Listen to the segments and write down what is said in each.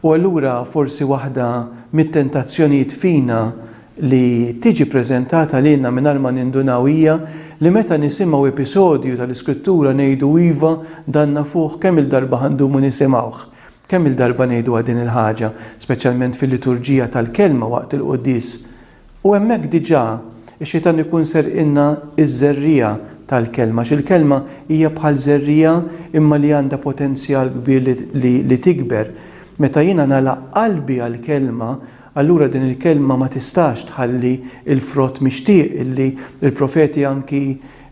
U allura forsi waħda mit-tentazzjonijiet fina li tiġi ppreżentata lilna mingħajr ma nindunaw hija li meta nisimgħu episodju tal-Iskrittura ngħidu iva, dan nafuh, kemm-il darba ħa ndumu nisimgħuh? Kemm-il darba ngħiduha din il-ħaġa, speċjalment fil-liturġija tal-Kelma waqt il-Quddies? U hemmhekk diġà x-Xitan ikun serqilna ż-żerriegħa tal-Kelma, għax il-Kelma hija bħal żerriegħa imma li għandha potenzjal kbir li tikber. Meta jiena nagħlaq qalbi għall-Kelma, allura din il-Kelma ma tistax tħalli l-frott mixtieq li l-profeti anki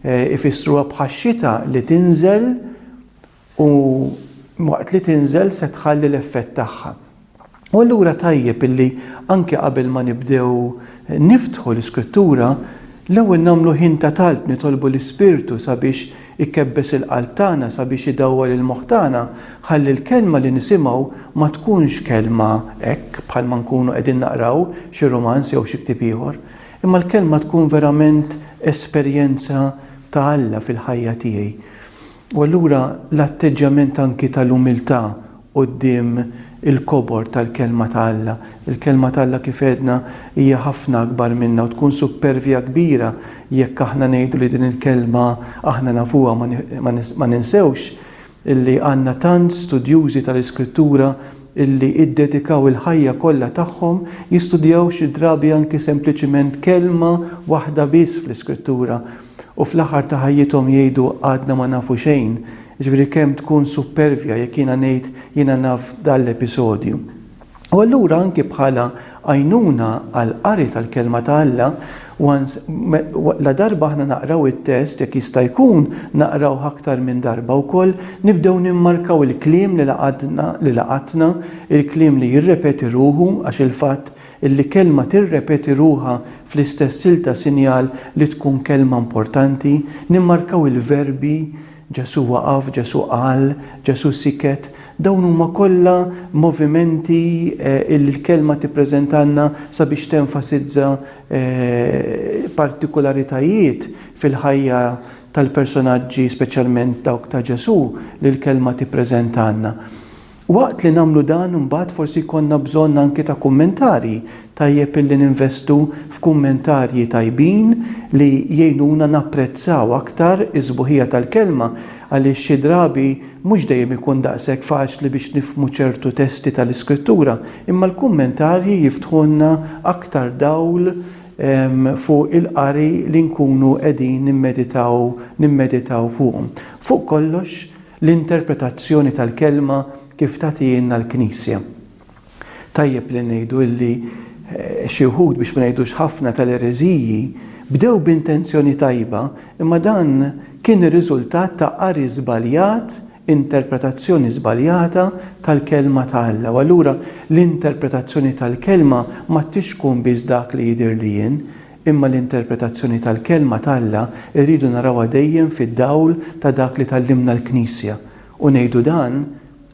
jfissruha bħax-xita li tinżel U waqt li tinżel se tħalli l-effett tagħha. U allura tajjeb illi anke qabel ma nibdew niftħu l-Iskrittura, l-ewwel nagħmlu ħin ta' talb nitolbu l-Ispirtu sabiex ikebbes il-qalb tagħna, sabiex idawwal il-moħħ tagħna, ħalli l-kelma li nisimgħu ma tkunx kelma hekk bħalma nkunu qegħdin naqraw xi rumanz jew xi ktieb ieħor, imma l-kelma tkun verament esperjenza ta' Alla fil-ħajja tiegħi. U allura l-atteġġjament anki tal-umiltà quddiem il-kobor tal-Kelma ta' Alla. Il-Kelma ta' Alla kif għedna hija ħafna akbar minna u tkun suppervja kbira jekk aħna ngħidu li din il-Kelma aħna nafuha ma ninsewx illi għandna tant studjużi tal-Iskrittura illi ddedikaw il-ħajja kollha tagħhom jistudjaw xi drabi anki sempliċiment kelma waħda biss fl-Iskrittura u fl-aħħar ta' ħajjithom jgħidu għadna ma nafu xejn, jiġifieri kemm tkun suppervja jekk jiena ngħid jiena naf dan l-episodju. U allura anki bħala għajnuna għall-qari tal-Kelma ta' Alla, once, la darba aħna naqraw it-test, jekk jista' jkun naqrawh aktar minn darba wkoll, nibdew nimmarkaw il-kliem li laqatna, il-kliem li jirrepeti ruħu għax il-fatt Illi kelma tirrepeti ruħha fl-istess silta sinjal li tkun kelma importanti, nimmarkaw il-verbi, Ġesù waqaf, Ġesù qal, Ġesù siket, dawn huma kollha movimenti illi l-kelma tippreżentalna sabiex tenfasizza partikularitajiet fil-ħajja tal-personaġġi speċjalment dawk ta' Ġesù li l-kelma tippreżentalna. Waqt li nagħmlu dan imbagħad forsi jkollna bżonn anki ta' kummentarji. Tajjeb illi ninvestu f'kummentarji tajbin li jgħinuna napprezzaw aktar is-sbuħija tal-kelma għaliex xi drabi mhux dejjem ikun daqshekk faċli biex nifhmu ċertu testi tal-Iskrittura imma l-kummentarji jiftħulna aktar dawl fuq il-qari li nkunu qegħdin nimmeditaw nimmeditaw fuqhom. Fuq kollox, L-interpretazzjoni tal-Kelma kif tagħtihielna l-Knisja. Tajjeb li ngħidu li xi wħud, biex ma ngħidux ħafna, tal-ereżiji bdew b'intenzjoni tajba, imma dan kien ir-riżultat ta' qari żbaljat, interpretazzjoni żbaljata tal-Kelma ta' Alla. U allura l-interpretazzjoni tal-Kelma ma tix tkun biss dak li jidhirli jien, Imma l-interpretazzjoni tal-Kelma t'Alla rridu narawha dejjem fid-dawl ta' dak li tgħallimna l-Knisja. U ngħidu dan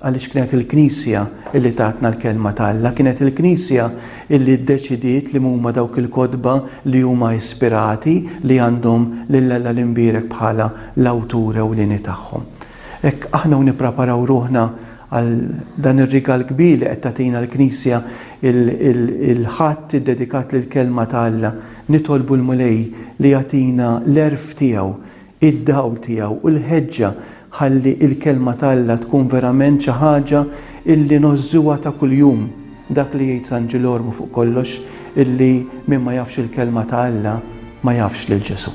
għaliex kienet il-Knisja li tatna l-Kelma t'Alla, kienet il-Knisja li ddeċidiet li mhuma dawk il-kotba li huma ispirati li għandhom lil Alla l-Imbierek bħala l-Awtur ewlieni tagħhom. Hekk aħna u nippreparaw ruħna għal dan ir-rigal kbir li qed tagħtina l-Knisja, il-Ħadd iddedikat lill-Kelma ta' Alla. Nitolbu l-Mulej li jagħtina l-għerf tiegħu, id-dawl tiegħu u l-ħeġġa ħalli l-Kelma ta' Alla tkun verament xi ħaġa illi ngħożżuha ta' kuljum. Dak li jgħid San Ġilormu fuq kollox illi min ma jafx il-Kelma ta' Alla ma jafx lil Ġesù.